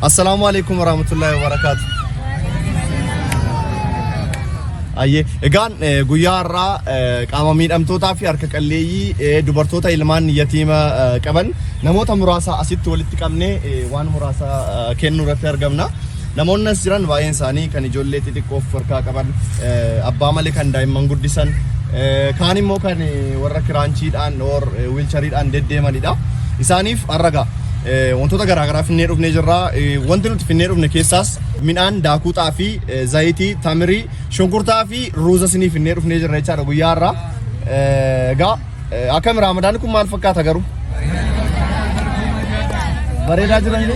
Assalaamu alaikum warahmatullahi wabarakatuh. Ayyee egaan eh, guyyaa har'aa eh, qaama miidhamtootaa fi harka qalleeyyii eh, dubartoota ilmaan yatiima eh, qaban namoota muraasa asitti walitti qabnee eh, waan muraasa eh, kennuu irratti argamna. Namoonni as jiran baay'een isaanii kan ijoollee xixiqqoo of harkaa qaban, abbaa malee kan daa'imman guddisan, kaan immoo kan warra kiraanchiidhaan or wiilchariidhaan deddeemanidha. Isaaniif har'a gaa wantoota garaagaraa finnee dhufnee jirra. Wanti nuti finnee dhufne keessaas midhaan daakuu xaafii, zayitii, tamirii, shunkurtaa fi ruuza sinii finnee dhufnee jirra jechaadha guyyaa har'aa. Egaa Akkami Raamadaanni kun maal fakkaata garuu? Bareedaa jiran ni?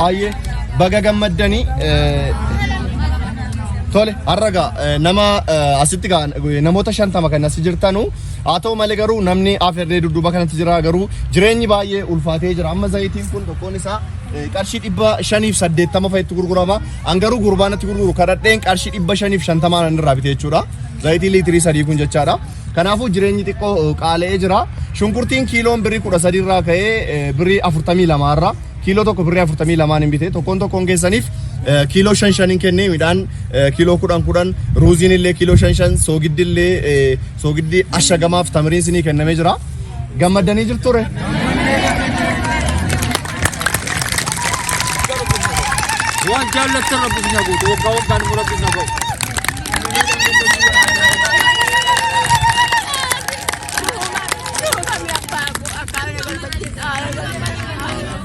Ayyee baga gammaddanii tole har'a gaa nama asitti gaa namoota shantama kan asi jirtanu haa ta'u malee garuu namni afeerree dudduuba kanatti jira garuu jireenyi baay'ee ulfaatee jira amma zayitiin kun tokkoon isaa qarshii dhibba shaniif saddeettama fa'itti gurgurama An garuu gurbaa natti gurguru kadhadheen qarshii dhibba shaniif shantamaa nan irraa bite jechuudha. Zayitii liitirii sadii kun jechaadha. Kanaafuu jireenyi xiqqoo eh, qaala'ee jira. Shunkurtiin kiiloon birrii kudha sadii irraa ka'ee eh, birrii afurtamii lamaa irra kiiloo tokko birrii afurtamii lamaan hin bite. Tokkoon tokkoon keessaniif eh, kiiloo shan shan hin kennee midhaan eh, kiiloo kudhan kudhan ruuziin illee kiiloo shan shan soogiddi illee eh, soogiddi ashagamaaf tamiriin sinii kennamee jira. Gammaddanii jirture? Waan jaallattan rabbi isin haa guutu. Waggaa waggaan immoo rabbi isin haa ga'u. Thank you.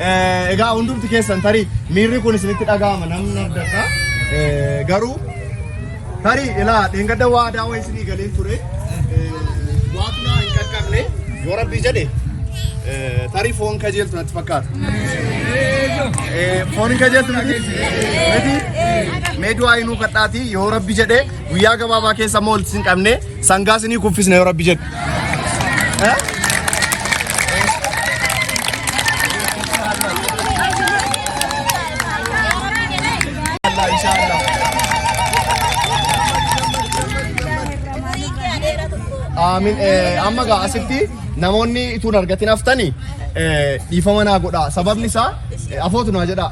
Eh, Egaa hundumti keessan tarii miirri kun isinitti dhaga'ama namni abdata. Eh, Garuu tarii ilaa dheengadda waadaa wayii isinii galeen ture. Eh, Waaqni hin qaqqabne yoo rabbii jedhe eh, tarii foon kajeeltu natti fakkaata. Eh, Foon hin kajeeltu miti? Miti? Mee du'aa inuu kadhaatii yoo rabbi jedhe Guyyaa gabaabaa keessa immoo walitti isin qabnee sangaa isinii kuffisna yoo rabbi jedhe. Eh? Allah, inshallah. Aamin. Eh, Amma gaa asitti namoonni ituun argatin haftani eh, dhiifama naa godhaa. Sababni isaa eh, afootu naa jedhaa.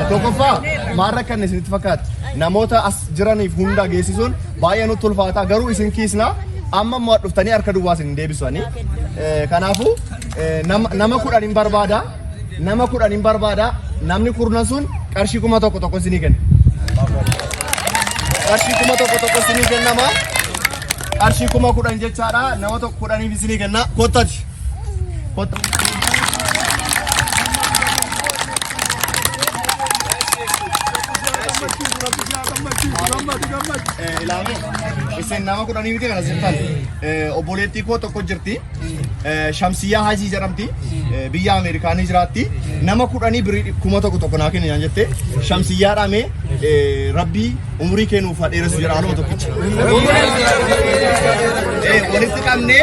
Tokkoffaa maal rakkanne isinitti fakkaata? Namoota as jiraniif hundaa geessisuun baay'ee nutti ulfaata garuu isin kiisna amma immoo dhuftanii harka duwwaa isin hin deebisanii. Kanaafuu nama kudhan hin barbaada nama kudhan hin barbaada namni kurnan sun qarshii kuma tokko tokko isinii kenna. Qarshii kuma tokko tokko isinii kennama. Qarshii kuma kudhan jechaadha nama tokko kudhaniif isinii kenna kottati. ilaalu isin nama kudhanii miti kana sirtan obboleettii koo tokko jirti shamsiyyaa hajii jedhamti biyya ameerikaanii jiraatti nama kudhanii birii kuma tokko tokko naa kenni naan jette shamsiyyaa dhaame rabbii umurii kee nuuf haa dheeressu jedha anuma tokkicha walitti qabnee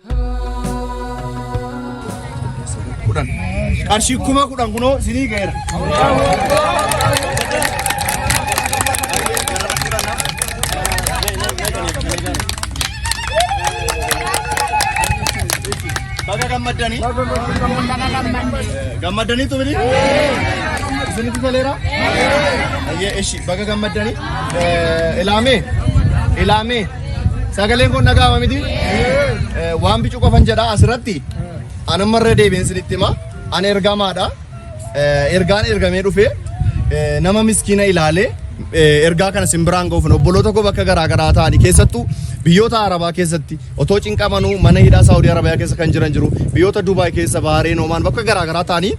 kudhan qarshii kuma kudhan kunoo isinii ga'eera. Baga gammaddanii. Gammaddanii tumini. Isinitti toleera. Ayyee ishi baga gammaddanii. Ilaamee ilaamee. Sagaleen kun dhaga'ama miti? Eh, Waan bicuu qofan jedha asirratti. Ani amma irra deebiin isinitti hima. Ani ergamaadha. Eh, Ergaan ergamee dhufe eh, nama miskiina ilaalee eh, ergaa kana sin biraan ga'uuf obboloota koo bakka garaa garaa ta'anii keessattuu biyyoota Arabaa keessatti otoo cinqamanuu mana hidhaa Saawudii Arabiyaa keessa kan jiran jiru biyyoota Dubaay keessa Bahareen Omaan bakka garaa garaa ta'anii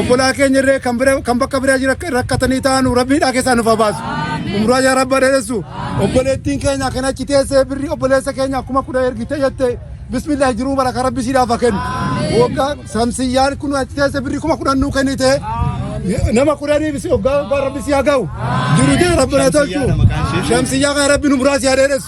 obbolaa keenya irree kan bira kan bakka biraa jira rakkatanii taanu rabbii dhaa keessaa nuuf habaasu umraa yaa rabba dheeressu obboleettiin keenya kan achi teessee birri obboleessa keenya kuma kudha ergite jette bismillah jiruu bara kan rabbi siidhaaf kennu waggaa samsiyyaan kun achi teessee birri kuma kudhan nuu kennite nama kudhanii bisi waggaa waggaa rabbi si haa ga'u jiru jee rabbi na tolchu shamsiyyaa kan rabbi nu biraa si haa dheeressu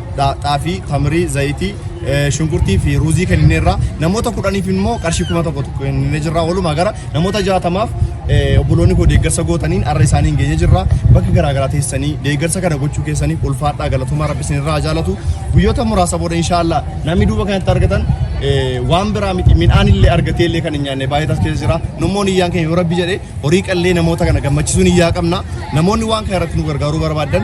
dha- xaafii, tamrii, zayitii, eh, shunkurtii fi ruuzii kennineerra. Namoota kudhaniif immoo qarshii kuma tokko tokko kenninee jirra. Walumaa gara namoota jaatamaaf eh, obboloonni koo deeggarsa gootaniin arra isaaniin geenye jirra. Bakka garaa garaa teessanii deeggarsa kana gochuu keessaniif ulfaadhaa galatoomaa rabbi isinirraa haa jaalatu. Guyyoota muraasa booda inshaallah namni duuba kanatti argatan eh, waan biraa miti midhaan illee argatee illee kan hin nyaanne baay'eetas keessa jira. Nummoon iyyaan keenya yoo rabbi jedhe horii qallee namoota kana gammachiisuun iyyaa qabna. Namoonni waan kana irratti nu gargaaruu barbaadan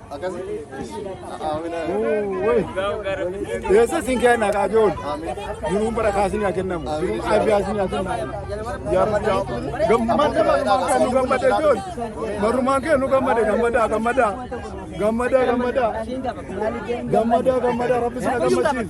Yesus isin kenna kajoon. Jiruun bara kaasin yaa kennamu. Jiruun abbiyaasin yaa kennamu. Yaa madda. Gammadda marumaan kennu gammadda joon. Marumaan kennu gammadda gammadda gammadda. Gammadda gammadda. Gammadda gammadda rabbi sina gammachiin.